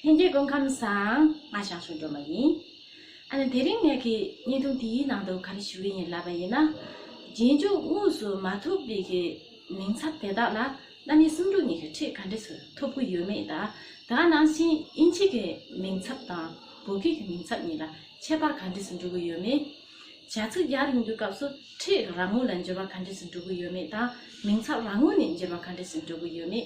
ལྷན་རྒྱས་སྐུ་ཁམས་བཟང། ང་ཞང་ཞུང་སྒྲོལ་མ་ཡིན། ཨ་ནི་དེ་རིང་ངེད་ཀྱིས་བརྙན་ཐུང་དེའི་ནང་དུ་ག་རེ་ཞུ་གི་ཡིན་ལབ་པ་ཡིན་ན། རྗེས་འཇུག་དངོས་སུ་མ་ཐུབ་རིགས་ཀྱི་མིང་ཚབ་དེ་དག་ལ་གནའ་ནི་སུམ་ཕྲུག་གཉིས་ཀྱི་ཁྲིད་ག་འདྲེ་ཟུར་ཐུབ་ཀྱི་ཡོད་མེད་དང་དེ་ག་ནང་བཞིན་དབྱིན་ཇི་གི་མིང་ཚབ་དང་བོད་སྐད་ཀྱི་མིང་ཚབ་གཉིས་ལ་ཁྱད་པར་ག་འདྲེ་ཟུར་འགྲོ་གི་ཡོད་མེད། བྱ་ཚིག་ཡར་ཡོང་རྒྱུ་སྐབས་སུ་ཁྲིད་རང་ངོ་ལ་འགྱུར་བ་ག་འདྲེ་ཟུར་འགྲོ་གི་ཡོད་མེད་དང་མིང་ཚབ་རང་ངོ་ནས་འགྱུར་བ་ག་འདྲེ་ཟུར་འགྲོ་གི་ཡོད་མེད།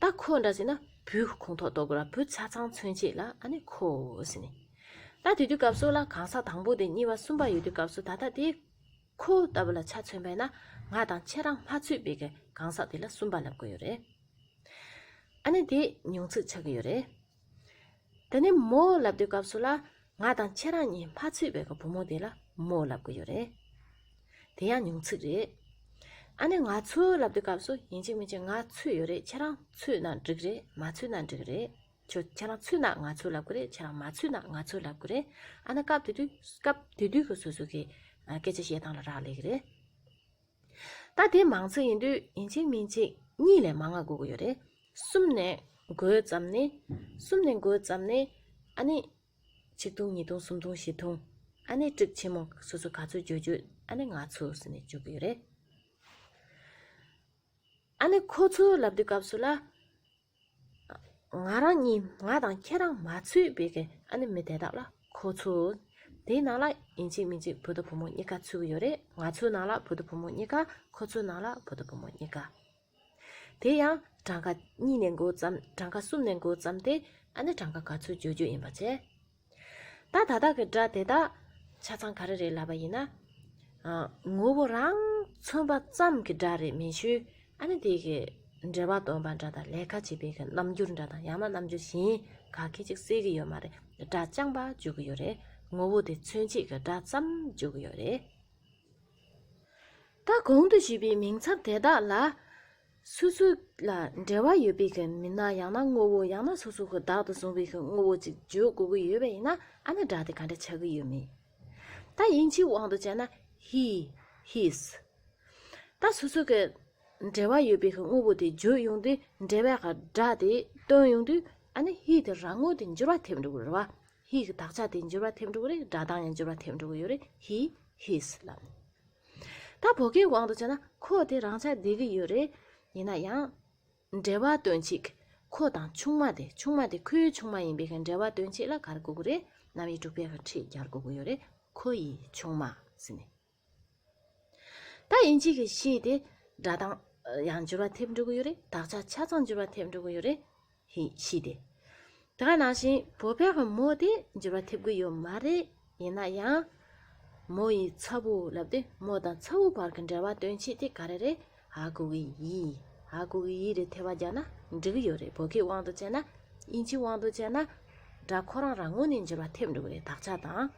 ད་ཁོ་འདྲ་ཟེར་ན་བུ་ཁོང་ཐོག་གཏོགས་དགོས་ལ་བུ་ཆ་ཚང་མཚོན་བྱེད་ལ་ཨ་ནི་ཁོ་ཟེར་ནས། ད་དེ་དུས་སྐབས་སུ་ལ་གང་ས་དང་པོ་དེ་གཉིས་པ་གསུམ་པ་ཡོད་དུས་སྐབས་སུ་ད་ལྟ་དེ། ཁོ་ལྟ་བུ་ལ་ཆ་མཚོན་པས་ན་ང་དང་ཁྱེད་རང་མ་ཚུད་པའི་གང་ཟག་དེ་ལ་གསུམ་པ་ལབ་དགོས་ཡོད་རེད། ཨ་ནི་དེ་མྱོང་ཚོད་ཆགས་ཀྱི་ཡོད་རེད། དེ་ནས་མོ་ལབ་དུས་སྐབས་སུ་ལ་ང་དང་ཁྱེད་རང་གཉིས་མ་ཚུད་པའི་བུ་མོ་དེ་ལ་མོ་ལབ་གི་ཡོད་རེད། དེ་ཡང་མྱོང་ཚིག་རེད། ཨ་ནེ་ང་ཚོ་ལབ་དུས་སྐབས་སུ་ཡིན་གཅིག་མིན་གཅིག་ང་ཚུད་ཡོད་རེད་ཁྱེད་རང་ཚུད་ན་འགྲིག་རེད་མ་ཚུད་ན་འགྲིག་རེད། ཁྱོད་ཁྱེད་རང་ཚུད་ན་ང་ཚོ་ལབ་གི་རེད་ཁྱེད་རང་མ་ཚུད་ན་ང་ཚོ་ལབ་གི་རེད་ཨ་ནེ་སྐབས་དེ་དུས་སྐབས་དེ་དུས་ཀྱི་སོ་སོ་གི་སྐད་ཆ་བཤད་སྟངས་ལ་རག་ལས་གི་རེད། ད་དེ་མང་ཚིག་ཡིན་དུས་ཡིན་གཅིག་མིན་གཅིག་གཉིས་ལས་མ་ང་དགོས་ཀྱི་ཡོད་རེད། གསུམ་ནས་དགོས་ཙམ་ནི། གསུམ་ནས་དགོས་ཙམ་ནི། ཨ་ནི། གཅིག་ཐུང་གཉིས་ཐུང་གསུམ་ཐུང་བཞི་ཐུང། ཨ་ནི་དཀྲིགས་ཆེན་མོ་སོ་སོ་ག་ཚོད་བརྗོད་བརྗོད་ཨ་ནི་ང་ཚོ་ཟེར་ནས་བརྗོད་ཀྱི་ཡོད་རེད། ཨ་ནི་ཁོ་ཚོའི་ལབ་དུས་སྐབས་སུ་ལ། ང་རང་གཉིས་ང་དང་ཁྱེད་རང་མ་ཚུད་པའི་ཨ་ནེ་མི་དེ་དག་ལ་ཁོ་ཚོ་དེའི་ནང་ལ་ཡིན་གཅིག་མིན་གཅིག་བུ་དང་བུ་མོ་གཉིས་ཀ་ཚུད་ཀྱི་ཡོད་རེད་ང་ཚོའི་ནང་ལ་བུ་དང་བུ་མོ་གཉིས་ཀ་ཁོ་ཚོའི་ནང་ལ་བུ་དང་བུ་མོ་གཉིས་ཀ། དེ་ཡང་གྲངས་ཀ་གཉིས་ནས་འགོ་བརྩམས་གྲངས་ཀ་གསུམ་ནས་འགོ་བརྩམས་ཏེ་ཨ་ནེ་གྲངས་ཀ་ག་ཚོད་བརྗོད་རྒྱུ་ཡིན་པ་བྱས། ད་ད་དག་གི་སྒྲ་དེ་དག་ཆ་ཚང་ག་རེ་རེད་ལབ་པ་ཡིན་ན། ངོ་བོ་རང་མཚོན་པ་ཙམ་གྱི་སྒྲ་རེད་མེད་ཆུ་ཨ་ནི་དེ་གི་འབྲེལ་བ་འདོན་པ་འདྲ་དང་ལས་ཁ་བྱེད་པའི་གི་རྣམ་འགྱུར་འདྲ་དང་ཡང་ན་རྣམ་འགྱུར་གཞན་ག་གི་ཅིག་བསྲེས་གི་ཡོད་མ་རེད་སྒྲ་རྐྱང་པ་འཇུག་གི་ཡོད་རེད་ངོ་བོ་དེ་མཚོན་བྱེད་གི་སྒྲ་ཙམ་འཇུག་གི་ཡོད་རེད། ད་གོང་དུ་ཞུས་པའི་མིང་ཚབ་དེ་དག་ལ། སོ་སོ་ལ་འབྲེལ་བ་ཡོད་པའི་མི་སྣ་ཡང་ན་དངོས་པོ་ཡང་ན་སོ་སོ་ཁོ་བདག་ཏུ་བཟུང་བའི་དངོས་པོ་ཅིག་བརྗོད་དགོས་ཀྱི་ཡོད་པ་ཡིན་ན་ཨ་ན་སྒྲ་དེ་ག་འདྲ་ཆགས་ཀྱི་ཡོད་མེད། ད་ཡིན་གྱི་དབང་དུ་བྱས་ན he his། ད་སོ་སོ་ཀའི་འབྲེལ་བ་ཡོད་པའི་དངོས་པོ་དེ་བརྗོད་ཡོང་དུས་འབྲེལ་བའི་སྒྲ་དེ་བཏོན་ཡོང་དུས་ཨ་ན he དེ་རང་ངོ་དེ་འགྱུར་བ་ཐེབས་འགྲོ་གི་རེད་བ། he གི་དག་ཆ་དེ་འགྱུར་བ་ཐེབས་འགྲོ་གི་རེད་སྒྲ་གདངས་ཡང་འགྱུར་བ་ཐེབས་འགྲོ་གི་ཡོད་རེད he his ལབ། ད་བོད་སྐད་དབང་དུ་བྱས་ན་ཁོ་དེ་རང་ཆགས་བསྡད་ཀྱི་ཡོད་རེད། ཡིན་ན་ཡང། འབྲེལ་བ་སྟོན་ཅིག། ཁོ་དང་ཆུང་མ་དེ་ཆུང་མ་དེ་ཁོའི་ཆུང་མ་ཡིན་པས་འབྲེལ་བ་སྟོན་ཅིག་ལ་གར་དགོས་ཀྱི་རེད། གནམ་ཡིག་དྲུག་པའི་ཁྲིད་རྒྱག་དགོས་ཀྱི་ཡོད་རེད། ཁོ་ཡི་ཆུང་མ། ཟེར་ནས། ད་ཡིན་གཅིག་གིས་ཤེས་ཏེ། སྒྲ་གདངས། ཡང་འགྱུར་བ་ཐེབས་འགྲོ་གི་ཡོད་རེད་དག་ཆ་ཆ་ཚང་འགྱུར་བ་ཐེབས་འགྲོ་གི་ཡོད་རེད། ཞེས་ཤེས་ཏེ། དེ་ག་ནང་བཞིན་བོད་པའི་བུ་མོ་དེ་འགྱུར་བ་ཐེབས་ཀྱི་ཡོད་མ་རེད་ཡིན་ན་ཡང། མོ་ཡི་ཚ་བོ་ལབ་ཏེ་མོ་དང་ཚ་བོའི་བར་གྱི་འབྲེལ་བ་སྟོན་ཆེད་དེ་ག་རེ་རེད་ཧ་གོ་གི་ཡིན་ཧ་གོ་གི་ཡིན་རེད་ཐལ་བ་རྒྱག་ན་འགྲིག་གི་ཡོད་རེད་བོད་སྐད་དབང་དུ་བྱས་ན་དབྱིན་ཇིའི་དབང་དུ་བྱས་ན་འདྲ་ཁོ་རང་རང་ངོས་ནས་འགྱུར་བ་ཐེབས་འགྲོ་གི་རེད་དག་ཆ་དང།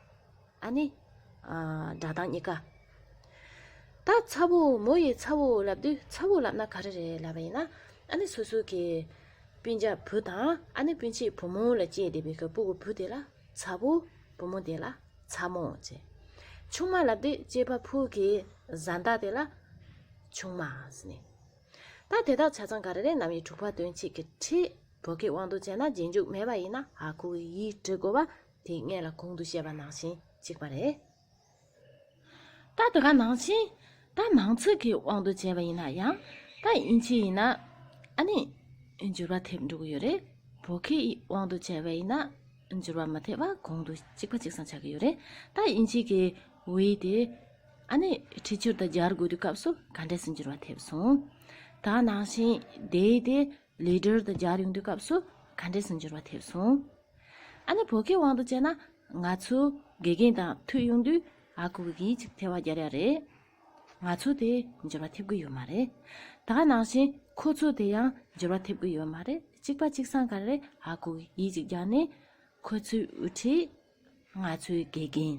ཨ་ནི། སྒྲ་གདངས་གཉིས་ཀ། ད་ཚ་བོ་མོ་ཡིས་ཚ་བོ་ལབ་དུས་ཚ་བོ་ལབ་ན་ག་རེ་རེད་ལབ་པ་ཡིན་ན། ཨ་ནི་སོ་སོ་གི་སྤུན་ཆ་བུ་དང་ཨ་ནི་སྤུན་ཆེད་བུ་མོ་ལ་སྐྱེས་བསྡད་པའི་ཁ་སྤུ་གི་བུ་དེ་ལ་ཚ་བོ། བུ་མོ་དེ་ལ་ཚ་མོ་ཅེས། ཆུང་མ་ལབ་དུས་སྐྱེས་པ་ཕུག་གི་བཟའ་ཟླ་དེ་ལ་ཆུང་མ་ཟེར་ནས། ད་དེ་དག་ཆ་ཚང་ག་རེ་རེད་ནམ་ཡིག་དྲུག་པ་སྟོན་བྱེད་ཀྱི་ཁྲིད་བོད་སྐད་དབང་དུ་བྱས་ན་རྗེས་འཇུག་མེད་པ་ཡིན་ན་ཧ་གོ་གི་ཡིག་འབྲི་དགོས་པ་དེ་ངེད་ལ་གོང་དུ་བཤད་པ་ནང་བཞིན་གཅིག་པ་རེད། ད་དེ་ག་ནང་བཞིན་ད་མང་ཚོད་ཀྱི་དབང་དུ་བྱས་པ་ཡིན་ན་ཡང་ད་དབྱིན་ཇི་ཡིན་ན་ཨ་ནི་འགྱུར་བ་ཐེབས་འགྲོ་གི་ཡོད་རེད་བོད་སྐད་ཡིག་དབང་དུ་བྱས་པ་ཡིན་ན་འགྱུར་བ་མ་ཐེབས་པ་གོང་དུ་གཅིག་པ་གཅིག་བཟང་ཆགས་ཀྱི་ཡོད་རེད་ད་དབྱིན་ཇི་གི་འི་དེ་ཨ་ནི་འཁྲིད་སྦྱོར་དང་སྦྱར་དགོས་དུས་སྐབས་སུ་ག་འདྲས་སུ་འགྱུར་བ་ཐེབས་སོང། ད་ནང་བཞིན་དེའི་དེ་ལི་སྦྱོར་དང་སྦྱར་ཡོང་དུས་སྐབས་སུ་ག་འདྲས་སུ་འགྱུར་བ་ཐེབས་སོང། ཨ་ནེ་བོད་སྐད་དབང་དུ་བྱས་ན། ང་ཚོའི་དགེ་རྒན་དང་ཐུག་ཡོང་དུས་ཨ་ཁུ་གིས་ཡིད་ཆེས་ཐལ་བ་རྒྱག་ཡ་རེད། ང་ཚོ་དེ་འབྱོར་བ་ཐེབས་ཀྱི་ཡོད་མ་རེད། ད་ནང་བཞིན་ཁོ་ཚོ་དེ་ཡང་འབྱོར་བ་ཐེབས་ཀྱི་ཡོད་མ་རེད་གཅིག་པ་གཅིག་སང་ག་རེད་ཨ་ཁུ་གིས་ཡིད་ཆེས་རྒྱག་ནས། ཁོ་ཚོའི་དབུ་ཁྲིད། ང་ཚོའི་དགེ་རྒན།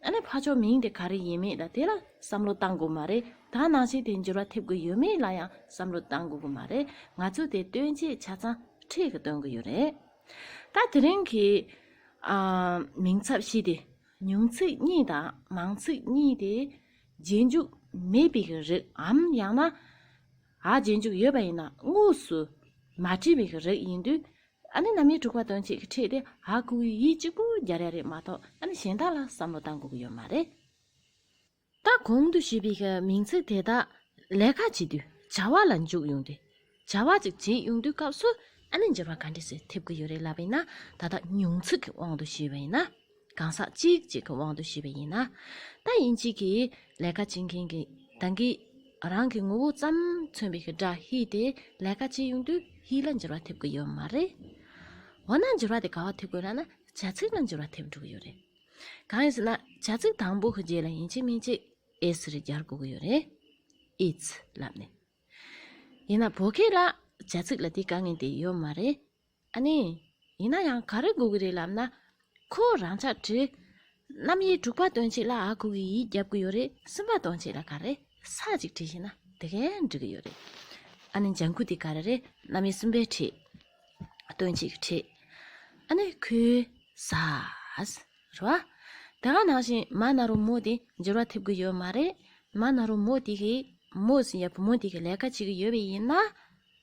ཨ་ནེ་ཕ་ཆོག་མིང་དེ་ག་རེ་ཡིན་མིན་ད་དེ་ལ་བསམ་བློ་གཏང་དགོས་མ་རེད་ད་ནང་ཆེན་དེ་འགྱུར་བ་ཐེབས་གི་ཡོད་མེད་ལ་ཡང་བསམ་བློ་གཏང་དགོས་གི་མ་རེད་ང་ཚོས་དེ་སྟོན་ཆེད་ཆ་ཚང་ཁྲིད་གི་སྟོན་གི་ཡོད་རེད། ད་དེ་རིང་གི། མིང་ཚབ་བཞི་དེ་ཉུང་ཚིག་གཉིས་དང་མང་ཚིག་གཉིས་དེ་རྗེས་འཇུག་མེད་པའི་གི་རིགས་འམ་ཡང་ན། རྗེས་འཇུག་ཡོད་པ་ཡིན་ན་དངོས་སུ་མ་བྲིས་པའི་གི་རིགས་ཡིན་དུས་ཨ་ནི་རྣམ་དབྱེ་དྲུག་པ་དོན་ཅིག་ཁྲིད་དེ་ཧ་གོ་བའི་ཡིད་གཅིག་པུ་རྒྱ་རེ་རེད་མ་གཏོགས་ཨ་ནི་གཞན་དག་ལ་བསམ་བློ་བཏང་དགོས་ཀྱི་ཡོད་མ་རེད། ད་གོང་དུ་བཤད་པའི་མིང་ཚིག་དེ་དག་ལས་ཁ་ཅིག་དུས་བྱ་བ་ལ་འཇུག་ཡོང་དུས་བྱ་བ་ཅིག་བྱེད་ཡོང་དུས་སྐབས་སུ་ཨ་ནི་འགྱུར་བ་ག་འདྲས་ཤིག་ཐེབས་ཀྱི་ཡོད་རེད་ལབ་པས་ན་ད་ལྟ་ཉུང་ཚིག་གི་དབང་དུ་བྱས་པ་ཡིན་ན། གང་ཟག་གཅིག་གཅིག་གི་དབང་དུ་བྱས་པ་ཡིན་ན། ད་ཡིན་གཅིག་གིས་ལས་ཀ་བྱེད་མཁན་གྱི་བདག་གིས་རང་གི་ངོ་བོ་ཙམ་མཚོན་པའི་སྒྲ་ཧི་དེ་ལས་ཀ་བྱེད་ཡོང་དུས་ཧི་ལ་འགྱུར་བ་ཐེབས་ཀྱི་ཡོད་མ་རེད། འོ་ན་འགྱུར་བ་དེ་ག་བ་ཐེབས་དགོས་ན་ན་བྱ་ཚིག་ལ་འགྱུར་བ་ཐེབས་འགྲོ་གི་ཡོད་རེད། གང་ཡིན་ཟེར་ན་བྱ་ཚིག་དང་པོ་གི་རྗེས་ལ་ཡིན་གཅིག་མིན་གཅིག་ཨེས་རེ་སྦྱར་དགོས་ཀྱི་ཡོད་རེད། ཨིས་ལབ་ནས། ཡིན་ན་བོད་སྐད་ལ་བྱ་ཚིག་ལ་དེའི་དཀའ་ངལ་དེ་ཡོད་མ་རེད། ཨ་ནི། ཡིན་ན་ཡང་ག་རེ་གོ་གི་རེད་ལབ་ན། ཁོ་རང་ཆ་བྲེགས། རྣམ་དབྱེ་དྲུག་པ་སྟོན་ཆེད་ལ་ཨ་ཁུ་གིས་ཡིད་རྒྱབ་གི་ཡོད་རེད་གསུམ་པ་སྟོན་ཆེད་ལ་ག་རེ་ས་ཅིག་བྲིས་ཤེས་ན་དེ་གས་འགྲིག་གི་ཡོད་རེད། ཨ་ནི་ལྗང་ཁུ་དེ་ག་རེ་རེད་རྣམ་དབྱེ་གསུམ་པའི་ཁྲིད། སྟོན་ཆེད་ཀྱི་ཁྲིད། ཨ་ནི་ཁོས། ཟ། རེད་བ། དེ་ག་ནང་བཞིན་མ་ན་རོ་མོ་དེ་འགྱུར་བ་ཐེབས་གི་ཡོད་མ་རེད། མ་ན་རོ་མོ་དེ་གིས་མོ་ཟིན་ཡ་བུ་མོ་དེ་གི་ལས་ཀ་བྱེད་གི་ཡོད་པས་ཡིན་ན།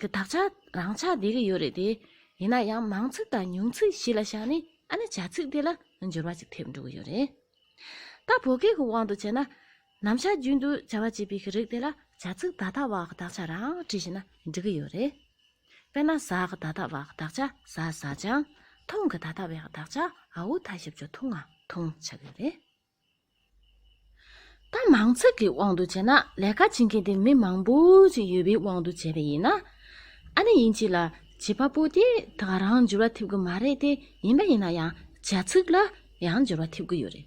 གི་དག་ཆ་རང་ཆགས་འདི་རིགས་ཡོད་རེད་དེ། ཡིན་ན་ཡང་མང་ཚིག་དང་ཉུང་ཚིག་གཞི་ལ་བཞག་ནས་ཨ་ནི་བྱ་ཚིག་དེ་ལ་འགྱུར་བ་ཅིག་ཐེབས་འགྲོ་གི་ཡོད་རེད། ད་བོད་སྐད་ཀྱི་དབང་དུ་བྱས་ན། ནམ་ཞར་རྒྱུན་དུ་བྱ་བ་བྱེད་པའི་གི་རིགས་དེ་ལ་བྱ་ཚིག་ད་ལྟ་བ་གི་དག་ཆ་རང་བྲིས་ཤིག་ན་འགྲིག་གི་ཡོད་རེད། དཔེར་ན་ཟ་གི་ད་ལྟ་བ་གི་དག་ཆ་ཟ་ཟ་ཅང། ཐུང་གི་ད་ལྟ་བའི་གི་དག་ཆ་ཨའུ་ཐ་ཞབས་ཅོ་ཐུང་ཨ་ཐུང་ཆགས་ཀྱི་ཡོད་རེད། ད་མང་ཚོགས་ཀྱི་དབང་དུ་བྱས་ན་ལས་ཀ་བྱེད་མཁན་དེ་མི་མང་པོ་ཅིག་ཡོད་པའི་དབང་དུ་བྱས་པ་ཡིན། ཨ་ནེ་ཡིན་གཅིག་ལ་བྱིས་པ་པོ་དེ་དག་རང་འགྱུར་བ་ཐེབས་གི་མ་རེད་དེ་ཡིན་པ་ཡིན་ན་ཡང་བྱ་ཚིག་ལ་ཡང་འགྱུར་བ་ཐེབས་གི་ཡོད་རེད།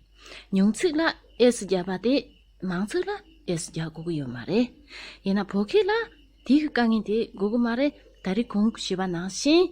ཉུང་ཚིག་ལ་ཨེས་རྒྱག་པ་དེ་མང་ཚིག་ལ་ཨེས་རྒྱག་དགོས་གི་ཡོད་མ་རེད། ཡིན་ན་བོད་སྐད་ལ་དེའི་དཀའ་ངལ་དེ་དགོས་གི་མ་རེད་ད་རེས་གོང་བྱིས་པ་ནང་བཞིན།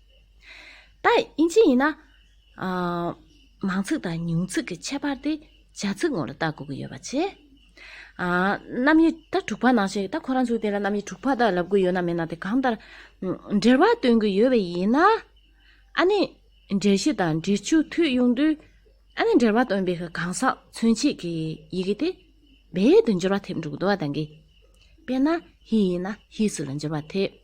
ད་དབྱིན་ཇི་ཡིན་ན། མང་ཚིག་དང་ཉུང་ཚིག་གི་ཁྱད་པར་དེ་བྱ་ཚིག་ངོ་ལ་བལྟ་དགོས་ཀྱི་ཡོད་པ་བྱས། རྣམ་དབྱེ་ད་དྲུག་པ་ནང་བཞིན་ད་ཁོ་རང་ཚོའི་དེ་ལ་རྣམ་དབྱེ་དྲུག་པ་དག་ལབ་དགོས་ཡོད་ན་མེད་ན་དེ་གང་ལྟར་འགྲེལ་བ་སྟོན་གྱི་ཡོད་པ་ཡིན་ན། ཨ་ནི་འགྲེལ་བཞི་དང་འགྲེལ་བཅུ་མཐུད་ཡོང་དུས། ཨ་ནི་འགྲེལ་བ་སྟོན་པའི་གང་ཟག་མཚོན་བྱེད་ཀྱི་ཡི་གེ་དེ་རྦད་དུ་འགྱུར་བ་ཐེབས་འགྲོ་གི་འདུག་བ་དང་གི། དཔེར་ན་ཧི་ཡིན་ན་ཧི་སུ་ལ་འགྱུར་བ་ཐེབས།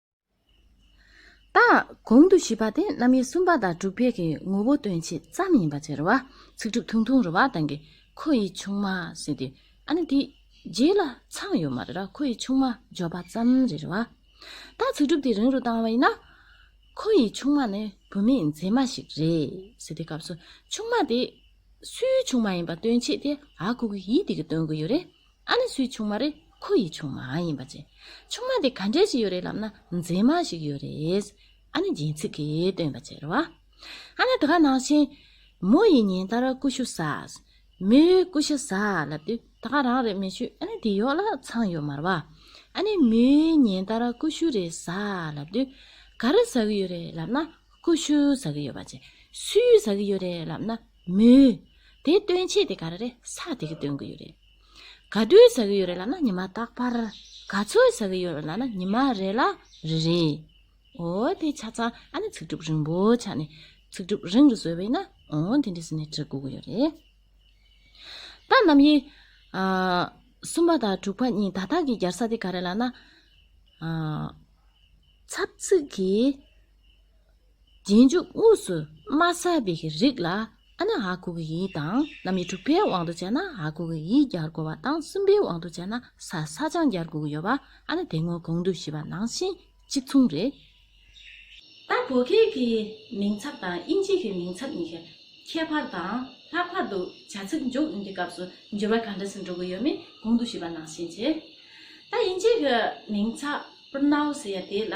དང། གོང་དུ་བཞི་པ་དེ་རྣམ་དབྱེ་གསུམ་པ་དང་དྲུག་པའི་གི་ངོ་བོ་སྟོན་བྱེད་ཙམ་ཡིན་པ་ཕྱིར། ཚིག་གྲུབ་ཐུང་ཐུང་རུ་བ་དང་གི་ཁོ་ཡི་ཆུང་མ་ཟེར་ཏེ། ཨ་ནི་དེ། རྗེས་ལ་ཚང་ཡོད་མ་རེད་ར་ཁོ་ཡི་ཆུང་མ་འཇོག་པ་ཙམ་རེད་ར་བ། དང་ཚིག་གྲུབ་དེ་རིང་རུ་བཏང་བ་ཡིན་ན། ཁོ་ཡི་ཆུང་མ་ནི་བུད་མེད་མཛེས་མ་ཞིག་རེད་ཟེར་ཏེ་སྐབས་སུ་ཆུང་མ་དེ། སུའི་ཆུང་མ་ཡིན་པ་སྟོན་བྱེད་དེ་ཨ་ཁུ་གི་ཡིད་དེ་གི་སྟོན་གི་ཡོད་རེད། ཨ་ནི་སུའི་ཆུང་མ་རེད་ཁོ་ཡི་ཆུང་མ་ཡིན་པ་ཅི། ཆུང་མ་དེ་ག་འདྲས་ཞིག་ཡོད་རེད་ལབ་ན་མཛེས་མ་ཞིག་ཡོད་རེད། ཨ་ནི་སྦྱིན་ཚིག་གིས་སྟོན་པ་ཅེར་བ། ཨ་ནི་དེ་ག་ནང་བཞིན། མོ་ཡིས་ཉིན་ལྟར་ཀུ་ཤུ་ཟ། མོས་ཀུ་ཤ་ཟ་ལབ་དུས་ད་ག་རང་རེད་མི་ཤུས་ཨ་ནི་དེ་ཡོག་ལ་ཚང་ཡོད་མར་བ། ཨ་ནི་མོས་ཉིན་ལྟར་ཀུ་ཤུ་རེ་ཟ་ལབ་དུས་ག་རེ་ཟ་གི་ཡོད་རེད་ལབ་ན་ཀུ་ཤུ་ཟ་གི་ཡོད་པ་ཅི། སུའི་ཟ་གི་ཡོད་རེད་ལབ་ན། མོད། དེ་སྟོན་ཆེད་དེ་ག་རེ་རེད་ས་དེ་གི་སྟོན་གི་ཡོད་རེད། ག་དུས་ཟ་གི་ཡོད་རེད་ལ་ན་ཉི་མ་རྟག་པར་ག་ཚོད་ཟ་གི་ཡོད་རེད་ལ་ན་ཉི་མ་རེ་ལ་རེ་རེད། ཨོ་དེ་ཆ་ཚང་ཨ་ནི་ཚིག་གྲུབ་རིང་པོ་ཆགས་ནས་ཚིག་གྲུབ་རིང་རུ་བཟོས་བས་ན་ཨོ་དེ་འདྲི་ཟེར་ནས་འདྲི་དགོས་གི་ཡོད་རེད། ད་རྣམ་དབྱེ། གསུམ་པ་དང་དྲུག་པ་གཉིས་དག་དག་གི་སྦྱར་ས་དེ་ག་རེད་ལ་ན། ཚབ་ཚིག་གི། རྗེས་འཇུག་དངོས་སུ་མ་བསལ་བའི་རིགས་ལ་ཨ་ནི་ཨ་ཁུ་གི་ཡིག་དང་རྣམ་དབྱེ་དྲུག་པའི་དབང་དུ་བྱས་ན་ཨ་ཁུ་གི་ཡིག་སྦྱར་དགོས་པ་དང་གསུམ་པའི་དབང་དུ་བྱས་ན་ས་ས་ཅང་སྦྱར་དགོས་ཀྱི་ཡོད་པ་ཨ་ནི་དེ་སྔོན་གོང་དུ་ཞུས་པ་ནང་བཞིན་གཅིག་མཚུངས་རེད། ད་བོད་སྐད་ཀྱི་མིང་ཚབ་དང་དབྱིན་ཇི་ཡི་མིང་ཚབ་གཉིས་ཀ་ཁྱད་པར་དང་ལྷག་པར་དུ་བྱ་ཚིག་འཇོག་ཡུན་གྱི་སྐབས་སུ་འགྱུར་བ་ག་འདྲ་ཞིག་འགྲོ་གི་ཡོད་མེད་གོང་དུ་ཞུས་པ་ནང་བཞིན་གྱིས། ད་དབྱིན་ཇི་ཡི་མིང་ཚབ། པར་ནའོ་ཟེར་ཡ་དེ་ལ་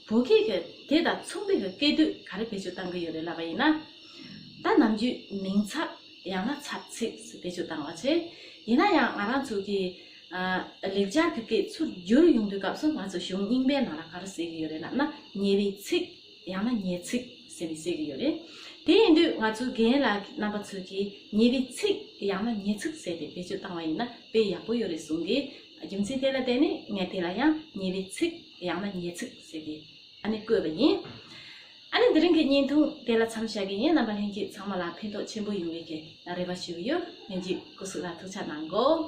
བོད་སྐད་ཀྱི་དེ་དང་མཚུངས་པའི་སྐད་དོད་ག་རེ་བེད་སྤྱོད་བཏང་གི་ཡོད་རེད་ལབ་པ་ཡིན་ན། ད་ནམ་རྒྱུད་མིང་ཚབ་ཡང་ན་ཚབ་ཚིག་བེད་སྤྱོད་བཏང་བ་བྱས། ཡིན་ན་ཡང་ང་རང་ཚོ་གི། ལེགས་སྦྱར་གྱི་སྐད་ཚུར་བསྒྱུར་ཡོང་དུས་སྐབས་སུ་ང་ཚོ་གཞུང་རྙིང་པའི་ནང་ལ་ག་རེ་ཟེར་གི་ཡོད་རེད་ལབ་ན་ཉེ་བའི་ཚིག་ཡང་ན་ཉེ་ཚིག་ཟེར་ནས་བཤད་གི་ཡོད་རེད། དེ་ཡིན་དུས་ང་ཚོའི་རྒན་ལགས་རྣམ་པ་ཚོས་ཀྱིས་ཉེ་བའི་ཚིག་ཡང་ན་ཉེ་ཚིག་ཟེར་ཏེ་བེད་སྤྱོད་བཏང་བ་ཡིན་ན་དཔེ་ཡག་པོ་ཡོད་རེད་གསུངས་གི་རྒྱུ་མཚན་དེ་ལ་བརྟེན་ནས་ངས་དེ་ལ་ཡང་ཉེ་བའི་ཚིག་ཡང་ན་ཉེ་ཚིག་ཟེར་ཏེ་ཨ་ནི་བཀོད་པ་ཡིན། ཨ་ནི་འདི་རིང་གི་བརྙན་ཐུང་དེ་ལ་འཚམས་བྱ་གི་ཡིན་རྣམ་པ་ལྷན་རྒྱུད་ཚང་མ་ལ་ཕན་ཐོགས་ཆེན་པོ་ཡོང་བའི་རེ་བ་ཞུ་གི་ཡོད་ལྷན་རྒྱུད་སྐུ་གཟུགས་ལ་ཐུགས་ཆ་གནང་གོ།